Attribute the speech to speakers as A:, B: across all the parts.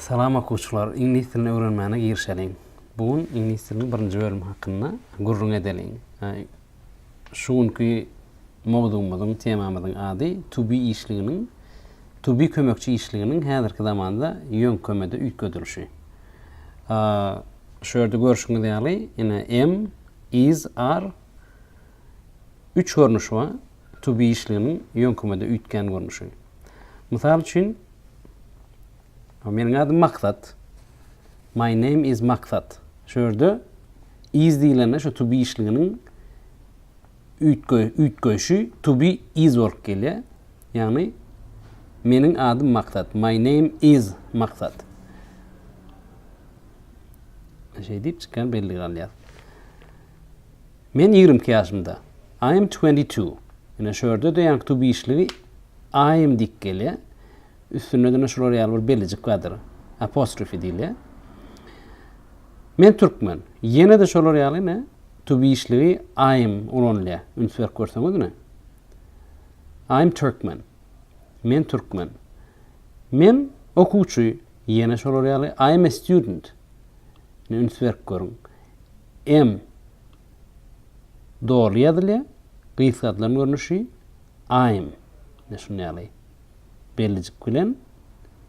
A: Salam okuwçylar, iňlis dilini öwrenmäne girişeliň. Bu gün iňlis diliniň birinji bölümi hakynda gürrüň edeliň. Şu günki mowzugymyzyň, temamyzyň ady to be işliginiň, to be kömekçi işliginiň häzirki zamanda ýöňkemede üýtgedilişi. Şu ýerde görşüňiz ýaly, ine, am, is, are üç görnüşi bar. to be işliginiň ýöňkümede üýtgän görnüşi. Mysal üçin, Meniň adym Maksat. My name is Maksat. Şu ýerde is diýlende şu to be işliginiň üýtgeýşi to be is bolup gelýär. Ýagny Meniň adym Maksat. My name is Maksat. Şeýdip çykan belli galýar. Men ýigrimi iki ýaşymda, I am twenty two. Ine, şu ýerde-de ýaňky to be işligi I am diýip gelýär. Üstünde-de ine şular ýaly bir bellijik bardyr, apostrophe diýilýär. Men türkmen. Ýene-de şolar ýaly ine to be işligi I am ulanylýar. Üns berip görseňiz ine. I am Turkmen. Men türkmen. Men okuwçy. Ýene şolar ýaly I am a student. Ine üns berip görüň. Em. Doly ýazylýar. Gysgaldylan görnüşi, aym. Ine şunda ýaly bellijik bilen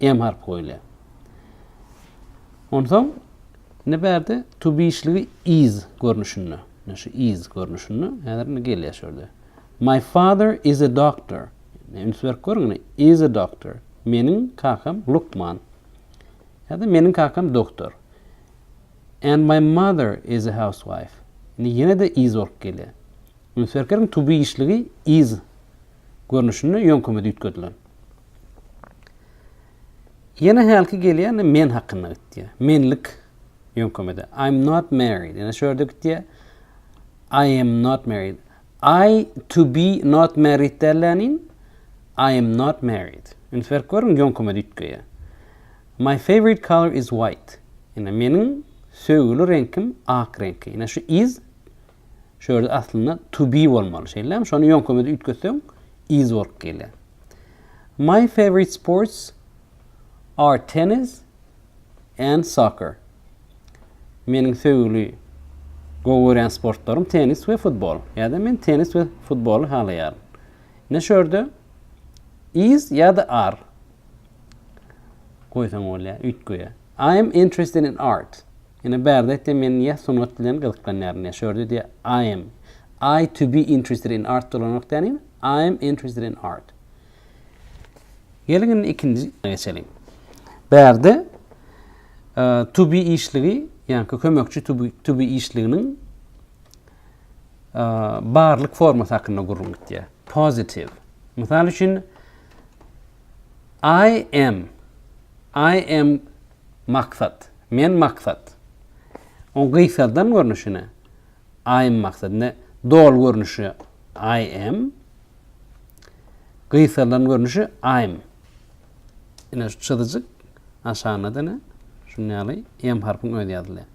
A: em harpy goýulýar. Onsoň indi bärde tubişligi is görnüşinde. Ine şu is görnüşinde. Häzir indi gelýär şu ýerde. My father is a doctor. Ine üns berip görüň indi. Is a doctor. Meniň kakam lukman. Ýa-da meniň kakam doktor. And my mother is a housewife. Indi ýene-de is bolup gelýär. Ünsberkleriň tubi işligi is görnüşinde ýöňkemede üýtgedilen. Ýene hälki gelýär, indi men hakynda gitýär. Menlik ýöňkemede. I'm not married. Ýene şu ýerde gitýär. I am not married. I to be not married dällänin. I am not married. Ünsberk görüň ýöňkemede üýtgeýär. My favorite color is white. Ine, meniň söýgüli reňkim ak reňki. Ine, şu is şu ýerde aslynda to be bolmaly. Şeýlemi? Şony ýoňkymyzy üýtgetseň, is bolup gelýär. My favorite sports are tennis and soccer. Meniň söýgüli gowy görýän sportlarym tennis we futbol. Ýa-da men tennis we futboly halaýaryn. Ine şu ýerde is ýa-da are goýsaň bolýar üýtgeýär. I am interested in art. Ýöne bärde aýtdy men ýa sungat bilen gyzyklanýaryn ýa şörde diýýär I am I to be interested in art dolanok däl indi I am interested in art. Geliň indi ikinji geçeliň. Bärde to be işligi ýaňky kömekçi to be, to be işliginiň barlyk formasy hakynda gürrüň gitýär. Positive. Mysal üçin I am, I am Maksat, men Maksat. Oň gysgaldan görnüşine, I am Maksat. Indi doly görnüşi I am, gysgaldan görnüşi I'm. Ine şu çyzyjyk aşagynda dene şuny ýaly M harpyň özi ýazylýar.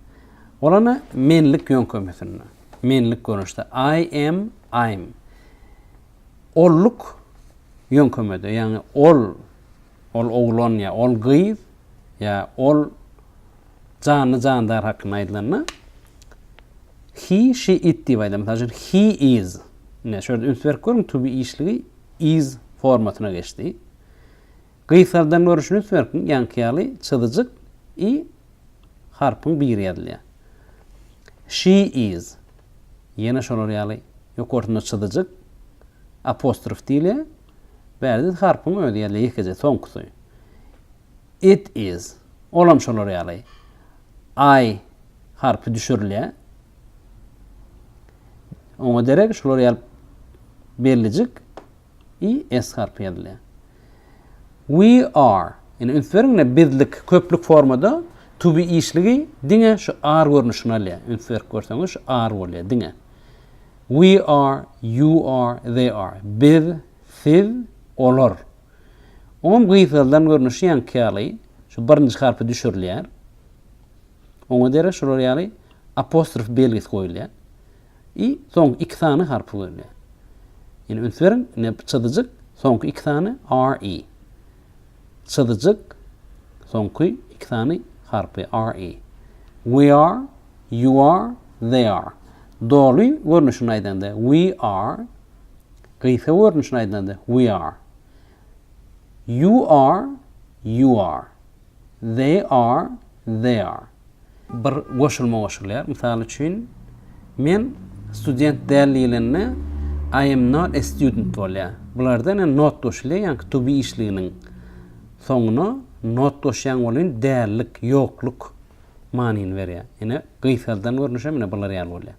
A: Olana menlik ýöňkemesinde, menlik görnüşde I am, I'm. Olluk ýöňkemede, ýagny ol, ol oglan ýa ol gyz ýa ol janly-jandar hakynda aýdylanda, he, she, it diýip aýdylýar. Mysal üçin, he is. Ine, şu ýerde üns berip görüň, to be işligi is formasyna geçdi. Gysardan görüşiniz berkin ýaňky ýaly çyzyjyk i harpyň biri ýazylýar. She is ýene şolar ýaly ýokarsynda çyzyjyk apostrof diýilýär. Bärde harpyň özi ýazylýar ýekeje soňkusy. It is olam şolar ýaly i harpy düşürilýär. Oňa derek şolar ýaly bellijik i, s harpy ýazylýar. We are, ýene üns beriň, ine bizlik köplük formada to be işligi diňe şu are görnüşini alýar. Üns berip görseňiz şu are bolýar diňe. We are, you are, they are. Biz, siz, olar. Oňam gysgaldan görnüşi ýaňky ýaly şu birinji harpy düşürilýär. Oňa derek şular ýaly apostrof belgisi goýulýar. i soňky iki sany harpy görünýär. Ýene üns beriň, ine çyzyjyk, soňky iki sany r i. Çyzyjyk, soňky iki sany harpy r i. We are, you are, they are. Doly görnüşini aýdanda we are, gysga görnüşini aýdanda we are. You are, you are. They are, they are. Bir goşulma goşulýar. Mysal üçin, Men student däl diýlende I am not a student bolýar. Bularda ine not goşulýar, ýaňky to be işliginiň soňuna not goşýaň ol indi dällik, ýokluk manyny berýär. Ine, gysgaldan görnüşem ine bular ýaly bolýar.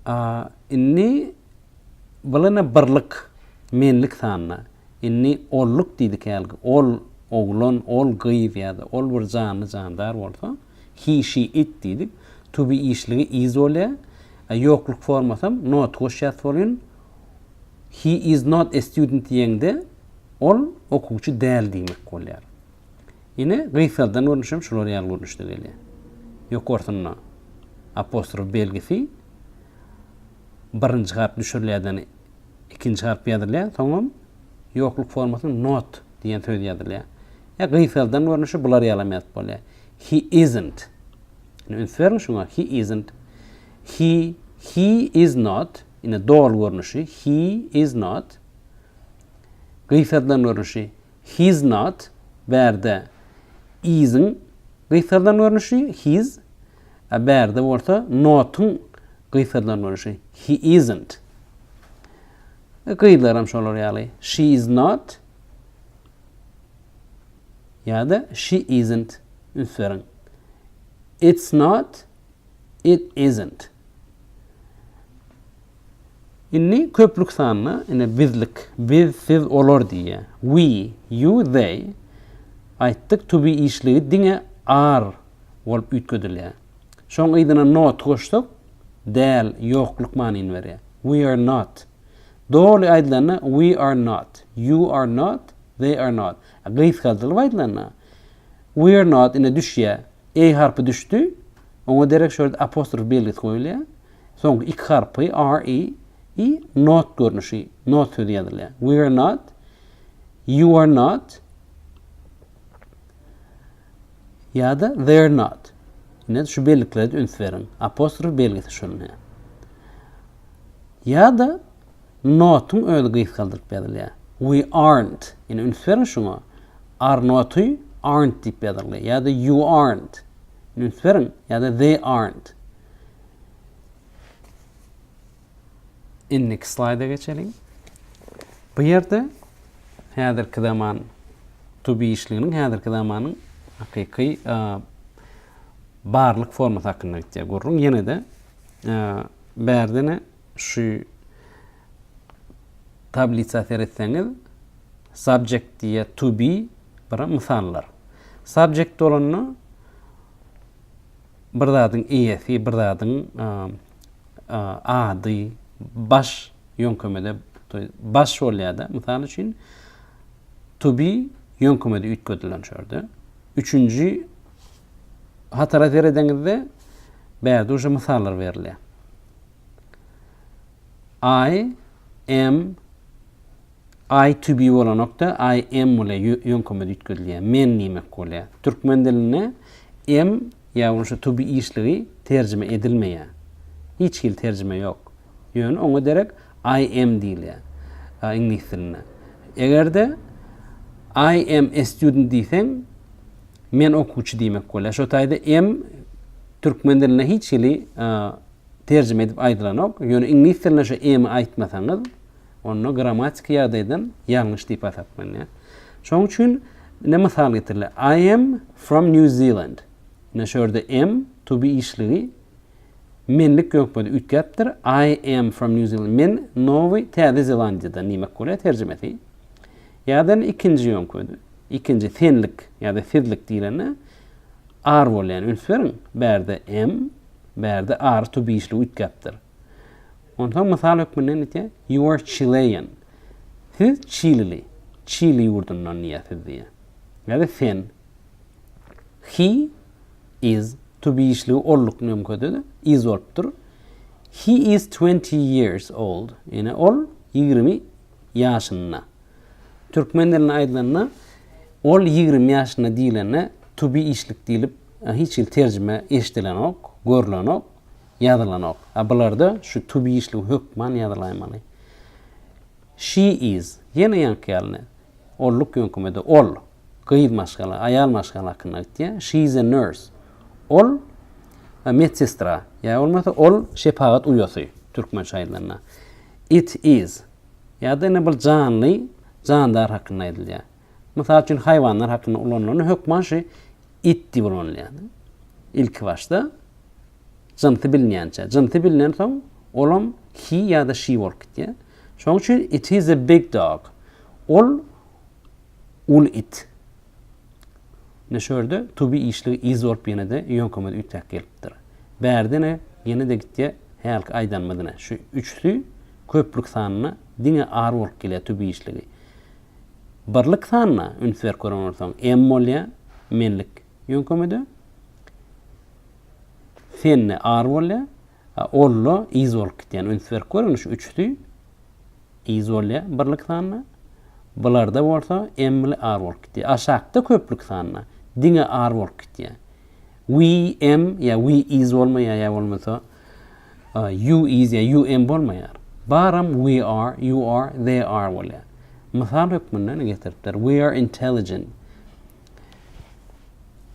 A: A. Indi bylana birlik, menlik sanyna, indi olluk diýdik hälki, ol, oglan, ol, gyz ýa-da ol bir janly, jandar bolsa, he, she, it diýdik, to be işligi is bolýar, a ýokluk formasam not goş ýaz foryn, He is not a student diýeňde, ol okuwçy däl diýmek bolýar. Ine, gysgaldan görnüş hem şular ýaly görnüşde gelýär. Ýokarsynda apostrof belgisi birinji harp düşürilýärden ikinji harp ýazylýar, soňam ýokluk formasynda not diýen söz ýazylýar. Ýa gysgaldan görnüşi bular ýaly hem ýazyp bolýar. He isn't. Ine, üns beriň şuňa. He isn't. He, he is not. Ine, doly görnüşi. He is not. Gysgaldan görnüşi. He's not, bärde, is-iň gysgarylan görnüşi, he's, a bärde bolsa not-yň gysgarylan görnüşi, he isn't. We gyzlaram şolar ýaly, she is not ýa-da she isn't üns beriň. It's not, it isn't. Indi köplük sanda ine bizlik, biz, siz, olar diýýär. We, you, they aýtdyk, to be işligi diňe are bolup üýtgedilýär. Şoň yzyna not goşsak, däl, ýokluk manyny berýär. We are not. Doly aýdylanda we are not, you are not, they are not. Gysgaldylyp aýdylanda we are not ine düşýär, e harpy düşdi, oňa derek şol ýerde apostrof belgisi goýulýar. Soňky iki harpy, R, E, i, not görnüşi, not sözi ýazylýar. We are not, you are not, ýa-da they're not. Ine, şu belliklere üns beriň. Apostrof belgisi şunuň. he. Ýa-da notuň özi gysgaldyryp ýazylýar. We aren't. Ine, üns beriň şuňa. Are noty aren't diýip ýazyldy. Ýa-da you aren't. Ine, üns beriň. Ýa-da they aren't. Indiki slaýda geçeliň. Bu ýerde häzirki zaman to be işliginiň häzirki zamanyň hakyky barlyk formasy hakynda gitýär gürrüň. Ýene-de bärdene şu tablisa seretseňiz subject diýýär to be bura mysallar. Subject bolanda Bir zadyň eýesi, bir zadyň ady, baş ýöňkemede, to ýest, baş bolýar-da. Mysal üçin, to be ýöňkemede üýtgedilen şu ýerde. Üçünji hatara seredeňizde, bärde uje mysallar berilýär. I am I to be bolanokda, I am bolýar, ýöňkeme üýtgedilýär, men diýmek bolýar. Türkmen dilinde am ýa bolmasa to be işligi terjime edilmeýär. Hiç hili terjime ýok. Ýöne oňa derek I am diýilýär iňlis dilinde. Eger-de I am a student diýseň, men okuwçy diýmek bolýar. Şo taýda am türkmen dilinde hiç hili terjime edip aýdylanok. Ýöne iňlis dilinde şu am-y aýtmasaňyz, Onda grammatiki ýagdaýdan ýalňyş diýip hasaplanýar. Şonuň üçin ine mysal getiriler, I am from New Zealand. Ine şu ýerde am to be işligi menlik ýok bolýar, üýtgäpdir. I am from New Zealand. Men Nowy Täze Zelandiýadan diýmek bolýar terjimesi. Ýa-da indi ikinji ýöňküdi. Ikinji senlik ýa-da sizlik diýlende are bolýar. Üns beriň, bärde am, bärde are to be işligi üýtgäpdir. Onsoň mysal hökmünde nite? You are Chilean. Siz çilili. Çili ýurdundan diýýär siz diýýär. Ýa-da sen. He is to be işligi olduk nömkede de is bolupdyr. He is 20 years old. Ýene ol 20 ýaşynda. Türkmen dilinde aýdylanda ol 20 ýaşynda diýlende to be işlik diýlip hiç hili terjime eşidilenok, görlenok. Ýazylanok. A bularda şu to be işligi hökman ýazylaýmaly. She is, ýene ýaňky ýaly, olluk ýöňkemede ol, gyz maşgala, aýal maşgala hakynda aýtýar. She is a nurse. Ol medsestra, ýa bolmasa ol şepagat uýasy, türkmençe aýdylanda. It is, ýa-da ine bir janly, jandar hakynda aýdylýar. Mysal üçin haýwanlar hakynda ulanylanda hökman şu it diýip ulanylýar. Ilkibaşda. Jynsy bilinýänçä. Jynsy bilinensoň, olam he ýa-da she bolup gitýär. Şonuň üçin it is a big dog. Ol uly it. Ine şu ýerde to be işligi is bolup ýene-de ýöňkemez üýtgäp gelipdir. Bärde ine ýene-de gitýär hälki aýdanymyz ine. Şu üçüsi köplük sanda diňe are bolup gelýär to be işligi. Birlik sanda üns berip gören bolsaň, am bolýar, menlik Ýöňkemede Sende ar bolýar, a Olla yz bolup gitýär. Üns berip görüň, şu üçüsi yz bolýar birlik sanda. Bularda bolsa M-li ar bolup gitýär. Aşakda köplük sanda diňe ar bolup gitýär. We M ýa we yz bolmaýar ýa bolmasa you yz ýa you M bolmaýar. Baram we are, you are, they are bolýar. Mysal hökmünde getiripdir. We are intelligent.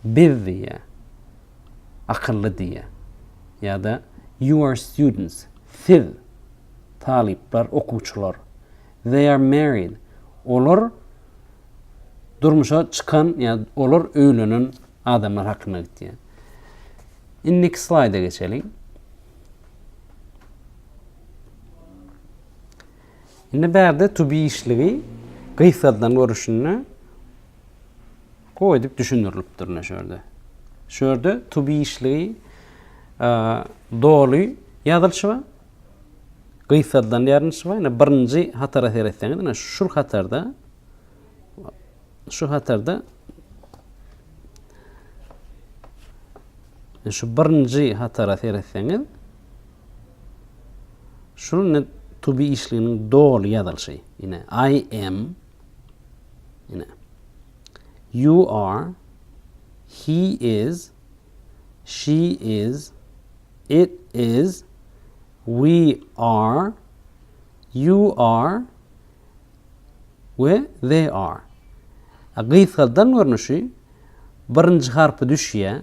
A: Biz diýýä, akylly diýýä. Ýa-da You are students, siz, talyplar, okuwçylar. They are married, olar durmuşa çykan ýa olar öýlenen adamlar hakynda gitýär. Indiki slaýda geçeliň. Indi bärde tubi işligi gysgadylan görüşinde gowy edip düşündirilipdir ine şu ýerde. Şu ýerde tubi işligi doly ýazylyşy bar. Gysgadylan ýazylyşy bar. Ine birinji hatara seretseňiz, ine şu hatarda Şu hatarda şu birinji hatara seretseňiz, şunuň ine to be işliginiň doly ýazylyşy. Ine I am ine you are he is she is it is we are you are we they are. Gysgaldan görnüşi birinji harpy düşýär.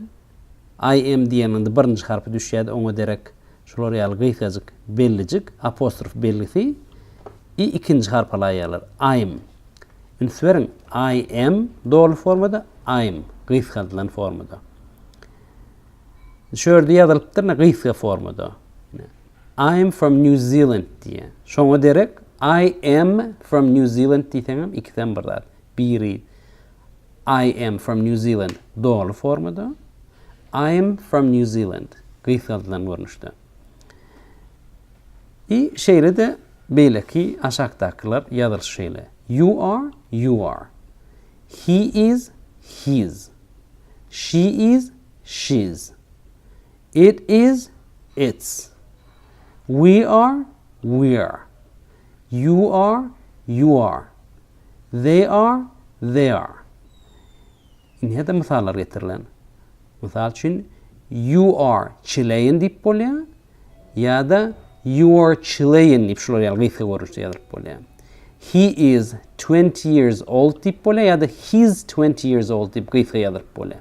A: I am diýeniňde birinji harpy düşýärdi, oňa derek şular ýaly gysgajyk bellijik, apostrof belgisi, i ikinji harpa laýalar. I'm. Üns beriň, I am doly formada, I'm gysgaldylan formada. Şu ýerde ýazylypdyr, ine, gysga formada. I am from New Zealand diýýär. Şoňa derek I am from New Zealand diýseňem ikisem bir zat. Biri I am from New Zealand doly formada, I am from New Zealand gysgaldylan görnüşde. I şeýle-de beýleki aşakdakylar ýazylyşy şeýle. You are, you are. He is, his. She is, she's. It is, its. We are, we're. You are, you are. They are, they are. Indi ýa-da mysallar getirilen. Mysal üçin, You are Chilean diýip bolýar ýa-da You are Chilean diýip şular ýaly gysga görnüşde ýazylyp bolýar. He is 20 years old diýip bolýar ýa-da He's 20 years old diýip gysga ýazylyp bolýar.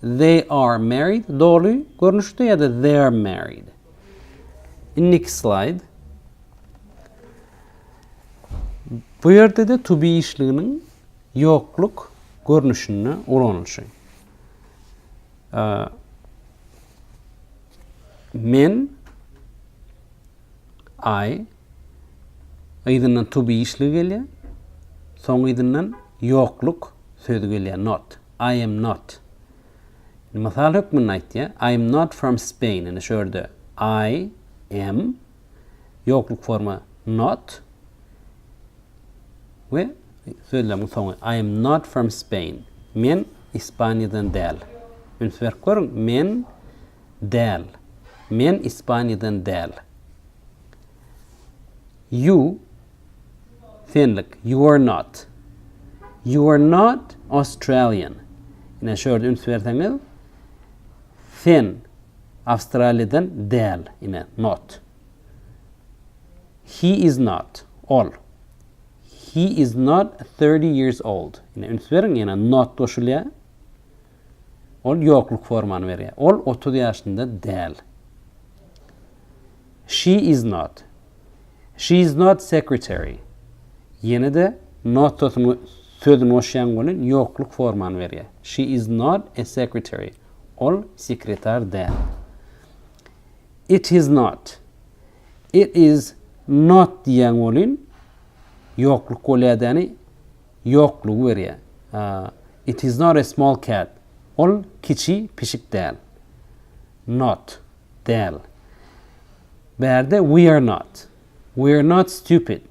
A: They are married, doly görnüşde ýa-da They're married. Indiki slaýd. Bu ýerde-de to be işliginiň ýokluk görnüşinde ulanylyşy. Men I yzyndan to be işligi gelýär. Soň yzyndan ýokluk sözi gelýär, not. I am not. Indi mysal hökmünde aýtýar, I am not from Spain. Indi şu ýerde I am, ýokluk forma not we sözlemiň soňy. I am not from Spain. Men Ispaniýadan däl. Üns berip görüň, men däl. Men Ispaniýadan däl. You, senlik, you are not. You are not Australian. Ine şu ýerde üns berseňiz, sen Awstraliýadan däl, ine not. He is not, ol. He is not 30 years old. Ine üns beriň, ýene not goşulýar. Ol ýokluk formany berýär. Ol otuz ýaşynda däl. She is not. She is not secretary. Ýene-de not sözüni sözüni goşýaň welin ýokluk formany berýär. She is not a secretary. Ol sekretar däl. It is not. It is not diýýäň welin ýokluk bolýar däni ýoklugy berýär. It is not a small cat, ol kiçi pişik däl. Not, däl. Bärde we are not. We are not stupid.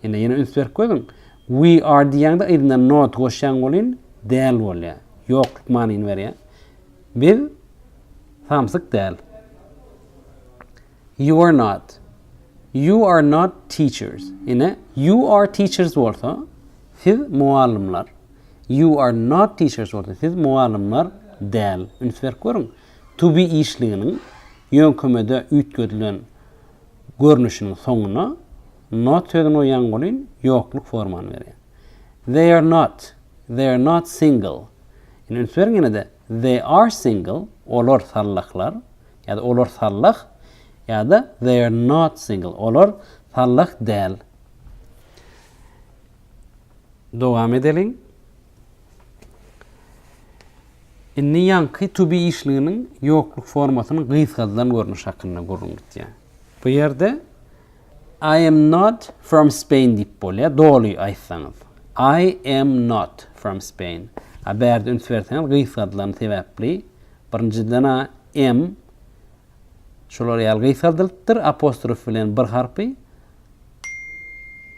A: Ine, ýene üns berip görüň. We are diýýäňde yzyna not goşýaň welin, däl bolýar. Ýokluk manyny berýär. Biz samsyk däl. You are not. You are not teachers. Ine, you are teachers bolsa, siz mugallymlar. You are not teachers bolsa, siz mugallymlar däl. Üns berip görüň. To be işliginiň ýöňkemede üýtgedilen görnüşiniň soňuna not sözüni goýýaň welin, ýokluk formany berýär. They are not. They are not single. Ine, üns beriň ýene-de. They are single. Olar sallaklar. ýa-da olar sallak ýa-da They are not single, olar sallak däl. Dowam edeliň. Indi ýaňky to be işliginiň ýokluk formasynyň gysgadylan görnüşi hakynda gürrüň gitýär. Bu ýerde I am not from Spain diýip bolýar, doly aýtsaňyz. I am not from Spain. A bärde üns berseňiz gysgadylany sebäpli Birinjiden-ä m şolar ýaly gysgaldylypdyr, apostrof bilen bir harpy,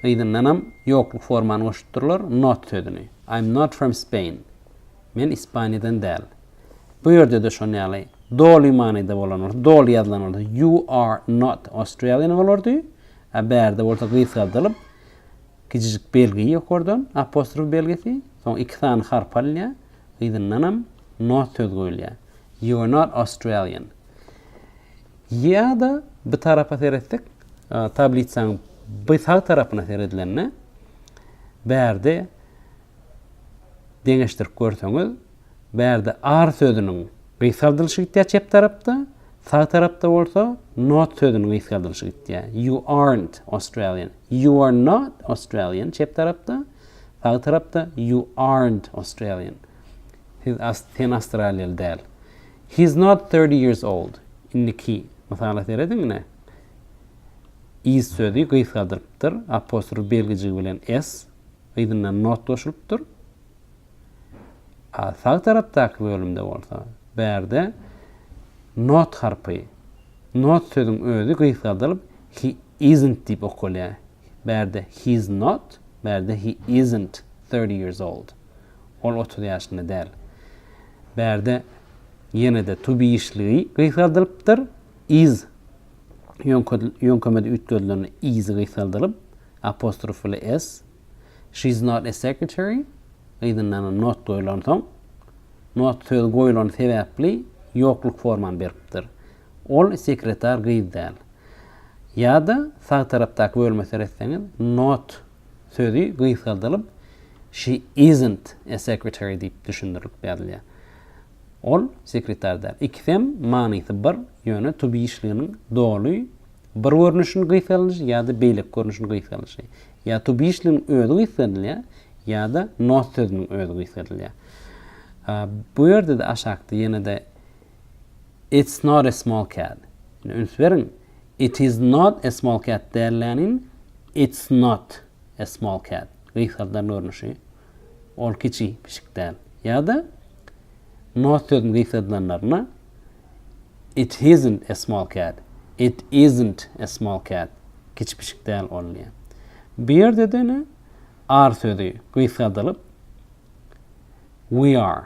A: yzyndanam ýokluk formany goşupdyrlar, not sözüni. I'm not from Spain. Men Ispaniýadan däl. Bu ýerde-de şon ýaly doly manyda bolan bolsa, doly ýazylan bolsa, you are not Australian bolardy, a bärde bolsa gysgaldylyp, kijijik belgi ýokardan, apostrof belgisi, soň iki sany harp alynýar, yzyndanam North söz goýulýar. You are not Australian. Ýa-da bu tarapa seretsek, tablitsaň bu sag tarapyna seredilende, bärde deňeşdirip görseňiz, bärde ar sözüniň gysgaldylyşy gitýär çep tarapda, sag tarapda bolsa not sözüniň gysgaldylyşy gitýär. You aren't Australian. You are not Australian çep tarapda. Sag tarapda You aren't Australian. Siz sen awstraliýaly däl. He's not thirty years old. Indiki mysala serediň ine. Is sözi gysgaldyrypdyr, apostrof belgijigi bilen s, yzyndan not goşulypdyr. A sag tarapdaky bölümde bolsa, bärde not harpy, not sözüň özi gysgaldylyp he isn't diýip okalýar. Bärde he's not, bärde he isn't thirty years old. Ol otuz ýaşynda däl. Bärde ýene-de to be işligi gysgaldylypdyr, is ýöňkemede üýtgedilende is gysgaldylyp, apostrof bilen s. She's not a secretary, yzyndanam not goýlansoň, not sözi goýulany sebäpli ýokluk formany beripdir. Ol sekretar gyz däl. Ýa-da sag tarapdaky bölüme seretseňiz, not sözi gysgaldylyp, she isn't a secretary diýip düşündirilip ýazylýar. Ol sekretar däl. Ikisem manysy bir, ýöne to be işliginiň doly bir görnüşiniň gysgaldylyşy ýa-da beýleki görnüşiniň gysgaldylyşy. Ýa to be işligiň özi gysgadylýar, ýa-da not sözüniň özi gysgadylýar. Bu ýerde-de aşakda ýene-de It's not a small cat. Ine, üns beriň, It is not a small cat dällänin, It's not a small cat. Gysgaldylan görnüşi. Ol kiçi pişik däl. Ýa-da not sözüni gysgaldylanlarynda, It hisn't a small cat. It isn't a small cat. Kiçi pişik däl ol diýýär. Bu ýerde-de ine, are sözi gysgaldylyp, We are.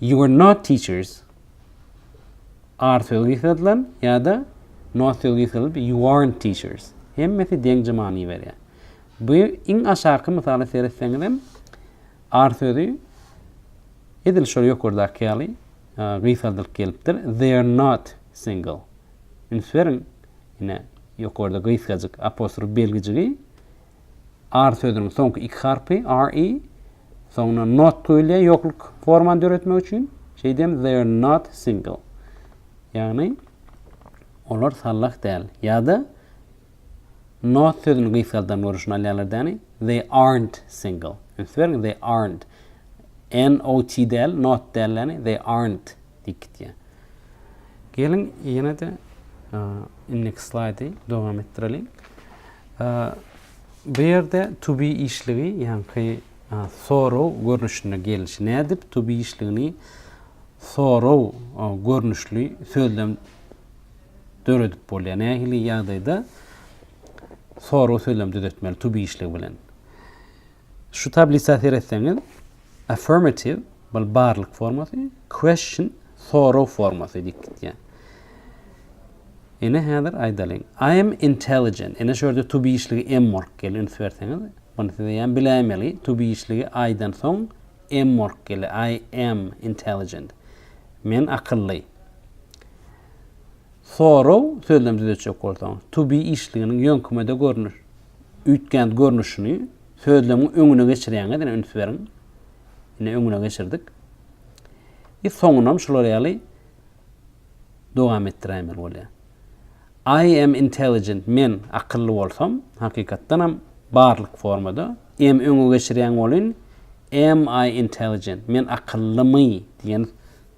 A: You are not teachers. Are sözi gysgadylan ýa-da not sözi gysgadylyp you aren't teachers. Hemmesi deňje many berýär. Bu iň aşaky mysala seretseňiz hem are sözi edil şol ýokardaky ýaly gysgadylyp gelipdir. They are not single. Üns beriň, ine ýokarda gysgajyk apostrof belgijigi Ar sözüniň soňky iki harpy, re, soňundan not goýulýar ýokluk formany döretmek üçin. Şeýdem, they're not single. Ýagny, olar sallak däl. Ýa-da not sözüni gysgaldan görüşini alýarlar däni. They aren't single. Üns beriň, they aren't. N-o-t däl, not däl däni. They aren't diýip gitýär. Geliň, ýene-de indiki slaýdy dowam etdireliň. Bu ýerde to be işligi, ýaňky sorrow görnüşinde gelişi. Nädip to be işligini sorrow görnüşli sözlem döredip bolýar? Nähili ýagdaýda sorrow sözlem düzetmeli to be işligi bilen? Şu tablisa seretseňiz, affirmative, bul barlyk formasy, question, soraw formasy diýip gitýär. Ine häzir aýdalyň. I am intelligent. Ine şu ýerde to be işligi am work gel üns berseňiz. Bunu siz eýýäm biläýmeli. To be işligi I-dan soň am work gele. I am intelligent. Men akylly. Soraw sözlem düzetjek bolsaň, to be işliginiň ýöňkümede görnüş. Üýtgänt görnüşini sözlemiň öňüne geçirýäňiz, ine üns beriň. Ine öňüne geçirdik. I soňunam şular ýaly dowam etdiräýmeli bolýar. I am intelligent, men akylly bolsam, hakykatdanam barlyk formada am öňe geçirýän bolyn, am I intelligent, men akyllymy diýen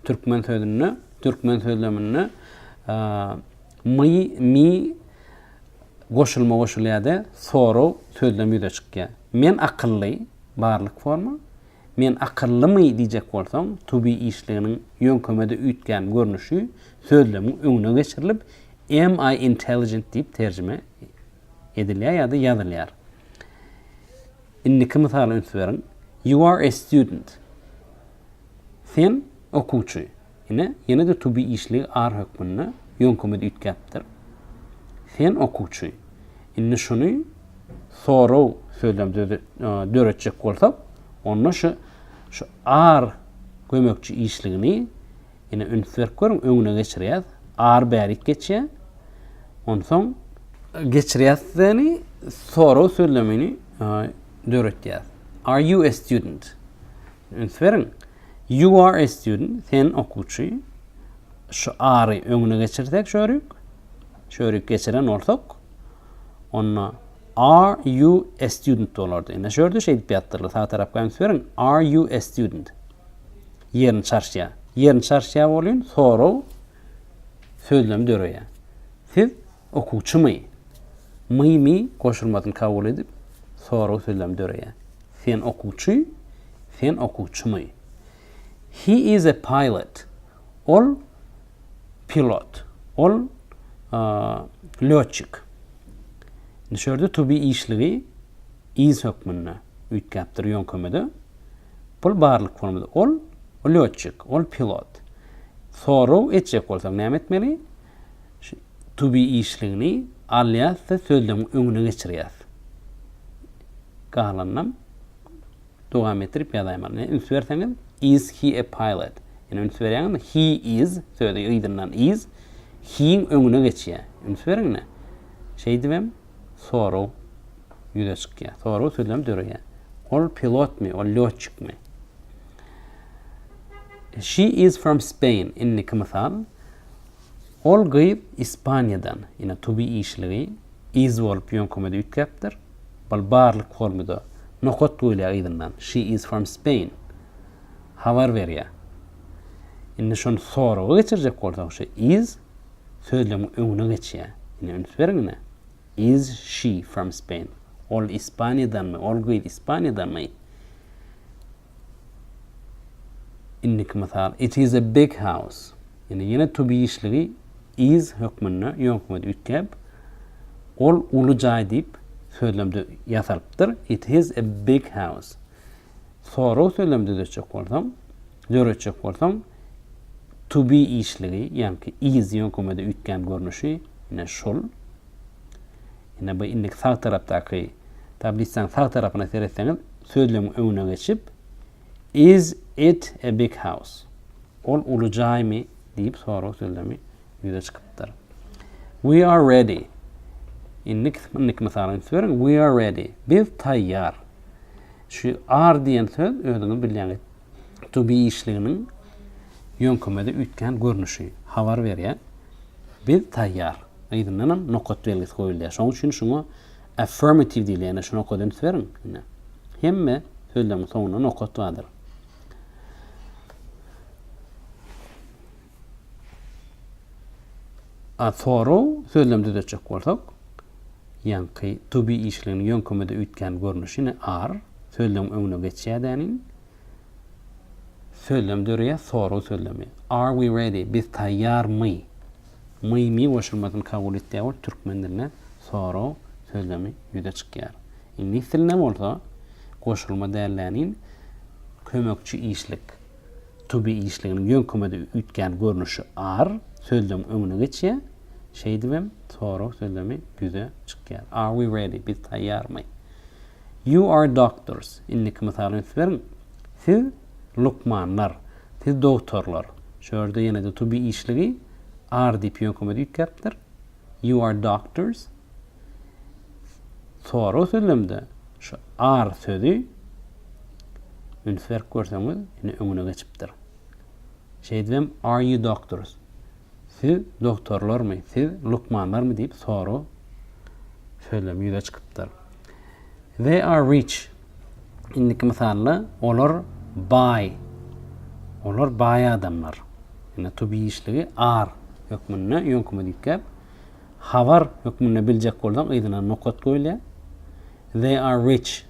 A: türkmen sözünde, türkmen sözleminde My, mi, goşulma goşulýar-da, sorag, sözlem ýüze çykýar. Men akylly, barlyk forma. Men akyllymy diýjek bolsaň, to be işliginiň ýöňkemede üýtgän görnüşi sözlemiň öňüne geçirilip, am I intelligent diýip terjime edilýär ýa-da ýazylýar. Indiki mysala üns beriň. You are a student. Sen, okuwçy, ine, ýene-de to be işligi are hökmünde ýöňkemede üýtgäpdir. Sen, okuwçy, indi şuny sorag sözlemde döretjek bolsak, onda şu şu are gömekçi işligini, ine, üns berip görüň, öňüne geçirýäs. Are bärik geçýär. Onsoň geçirýäsdeni sorag sözlemini döretýäs. Are you a student? Üns beriň! You are a student, sen okuwçy. Şu are-y öňüne geçirsek şörik, şörik geçiren bolsak, onda are you a student bolardy. Ine şörde şeýdip ýazdylar. Sag tarapga üns beriň. Are you a student? Ýerini çarşýar. Ýerini çarşýar bolýun, sorag sözlemi döreýär. Siz Okuwçymy? My mi goşulmasyny kabul edip, sorag sözlemi döreýär. Sen okuwçy? Sen okuwçymy? He is a pilot. Ol pilot. Ol lýotçik. Indi şu ýerde to be işligi is hökmünde üýtgäpdir ýöňkemede. Bul barlyk formada. Ol lýotçik. Ol pilot. Sorag etjek bolsak näme etmeli? Tubi işligini alýas-da sözlemiň öňüne geçirýäs. Galanynam dowam etdirip ýazaýmaly. Ine, üns berseňiz, Is he a pilot? Ýene üns berýäňizmi? He is sözi yzyndan is he-iň öňüne geçýär. Üns beriň ine. Şeýdibem soraw ýüze çykýar. Soraw sözlemi döreýär. Ol pilotmy? Ol lýotçykmy? She is from Spain. Indiki mysal. Ol gyz Ispaniýadan, ine, tubi işligi iz bolup ýöňkümede üýtgäpdir. Bal barlyk formy-da nokat goýulýar yzyndan, She is from Spain. Habar berýär. Indi şony soraga geçirjek bolsak, şu is sözlegiň öňüne geçýär. Ine, üns beriň ine. Is she from Spain? Ol Ispaniýadanmy? Ol gyz Ispaniýadanmy? Indiki mysal, It is a big house. Ýöne ýene to be işligi is hökmünde ýöňkmede üýtgäp, ol uly jaý diýip sözlemde ýasalypdyr. It is a big house. Sorag sözlemi düzetjek bolsaň, döretjek bolsaň, to be işligi, ýaňky is ýöňkmede üýtgän görnüşi, ine şul. Ine bu indiki sag tarapdaky tablisaň sag tarapyna seretseňiz, Sözlügiň öňüne geçip, Is it a big house? Ol uly jaýmy? diýip sorag sözlemi ýüze çykypdyr. We are ready. Indik, indiki mysaly üns beriň. We are ready. Biz taýýar. Şu are diýen söz özüňiz bilýäňiz, to be işliginiň ýöňkemede üýtgän görnüşi, habar berýär. Biz taýýar. Yzyndanam nokat belgisi goýulýar. Şonuň üçin şuňa Affirmative diýilýändir, şuny oka üns beriň. Ine, hemme sözleriň soňunda nokat bardyr. A thorough sözlemi düzetjek bolsak, ýaňky to be işligini ýöňkümede üýtgän görnüşi ne ar sözlem öňüne geçýädäniň sözlem döreýär thorough sözlemi. Are we ready? Biz taýýarmy? Mymy goşulmasyny kabul etýär bolup, türkmen dilinde sorag sözlemi ýüze çykýar. Iňlis dilinde bolsa, goşulma dälläniň kömekçi işlik, to be işliginiň ýöňkemede üýtgän görnüşi are sözlemiň öňüne geçýär, şeýdibem sorag sözlemi ýüze çykýar. Are we ready? Biz taýýarmy? You are doctors. Indiki mysaly üns beriň. Siz lukmanlar, siz dogtorlar, şu ýerde ýene-de to be işligi are diýip ýöňkemede üýtgäpdir, you are doctors. Sorag sözlemde şu are sözi üns berip görseňiz, indi öňüne geçipdir. Şeýdibem are you doctors? Siz dogtorlarmy, siz lukmanlarmy diýip sorag sözlemi ýüze çykypdyr. They are rich. indiki mysalda olar baý, olar baý adamlar. Indi to be işligi ar hökmünde ýöňküme diýipgäp, habar hökmünde biljek bolsaň yzyna nokat goýulýar. They are rich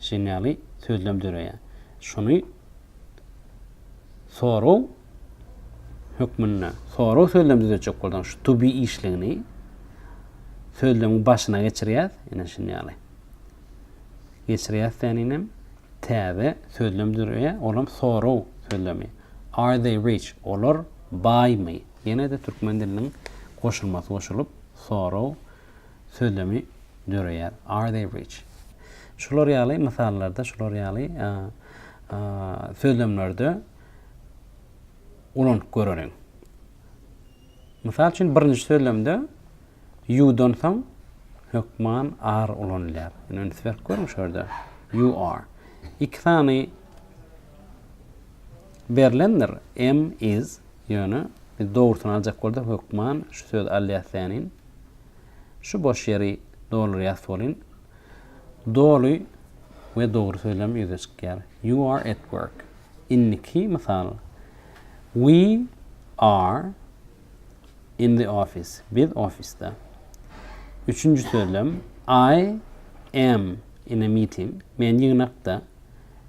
A: şeýn ýaly sözlem döreýär. Şuny soraw hökmünde, soraw sözlemi düzetjek bolsaň şu to be işligini sözlemiň başyna geçirýäs, ine şuny ýaly. Geçirýäs seninem täze sözlem dürýä olam soraw sözlemi Are they rich olar baýmy ýenede türkmen diliniň goşulmasy goşulyp soraw sözlemi döreýär Are they rich şular ýaly mysallarda şular ýaly sözlemlerde ulanyp göreliň. Mysal üçin, birinji sözlemde you-dan soň hökman are ulanylýar. Ýöne üns berip görüň şu ýerde. You are. Iki sany berlendir. Am, is. Ýöne biz dogrusyny aljak bolsak hökman şu sözi alýas tänin. Şu boş ýeri doldurýas bolin. Doly we dogry sözlem ýüze çykýar. You are at work. Indiki mysal. We are in the office. Biz ofisde. Üçünji sözlem, I am in a meeting. Men ýygnakda.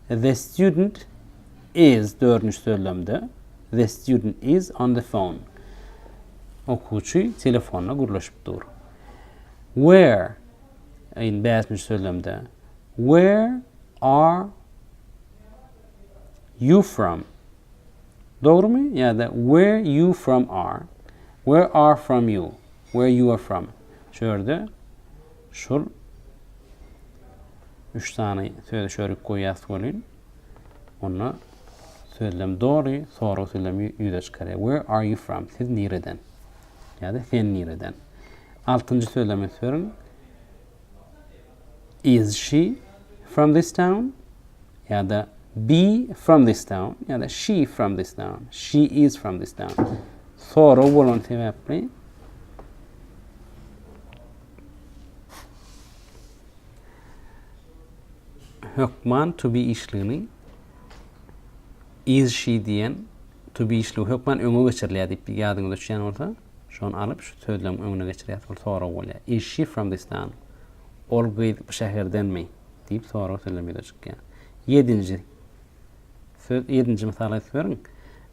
A: The student is, dördünji sözlemde, The student is on the phone. Okuwçy telefonda gürleşip dur. Where, in bäşinji sözlemde, Where are you from dogrymy ýa-da where you from are where are from you where you are from şu ýerde şul üç sany sözi şörik goýýas welin onda sözlem dogry sorag sözlemi ýüze çykarýar where are you from siz nireden ýa-da sen nireden altynjy sözlemi sörin Is she from this town? ýa-da Be from this town? ýa-da She from this town? She is from this town. Sorag bolan sebäpli hökman to be işligini is she diýen to be işligi hökman öňe geçirilýär diýip ýadyňyza düşýän bolsa Şony alyp, şu sözlemiň öňüne geçirýäs. Ol sorag bolýar. Is she from this town? Ol gyz bu şäherdenmi? diýip soragy sözlem ýüze çykýar. Ýedinji söz, ýedinji mysal aýdyp beriň.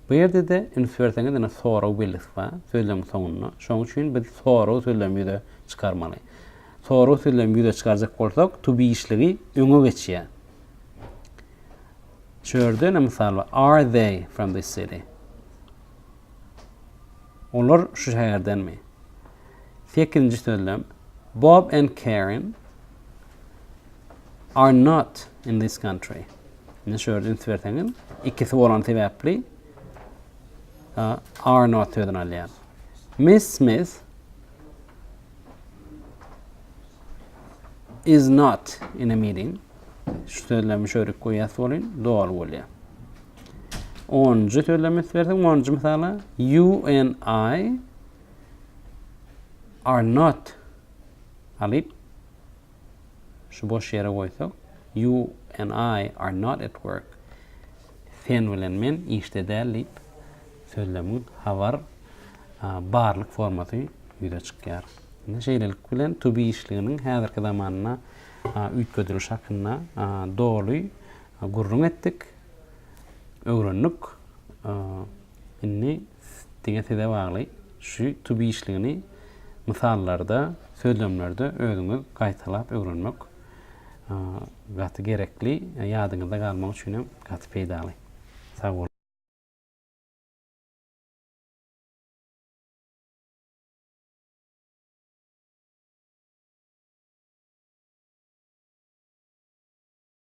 A: Bu ýerde-de üns berseňiz, ine sorag belgisi bar sözlemiň soňunda. Şonuň üçin biz sorag sözlemini ýüze çykarmaly. Sorag sözlemini ýüze çykarjak bolsak, to be işligi öňe geçýär. Şu ýerde ine mysal bar. Are they from this city? Olar şu şäherdenmi? Sekizinji sözlem. Bob and Karen are not in this country. Ne şöyle üns berseňiz, ikisi bolan sebäpli are not sözünü alýar. Miss Smith is not in a meeting. Şu sözlemi şöyle koyas bolin, doğal bolýar. Onunjy sözlemi berseň, onunjy mysala you and I are not alyp şu boş ýere goýsak, you and I are not at work. Sen bilen men işde däl diýip sözlemiň habar barlyk formasy ýüze çykýar. Indi şeýlelik bilen to be işliginiň häzirki zamanda üýtgedilişi hakynda doly Gürrüň etdik, öwrendik. Indi diňe size bagly. Şu to be işligini mysallarda, sözlemlerde özüňiz gaýtalap öwrenmek gaty gerekli, ýadyňyzda galmagy üçin hem gaty peýdaly. Sag boluň!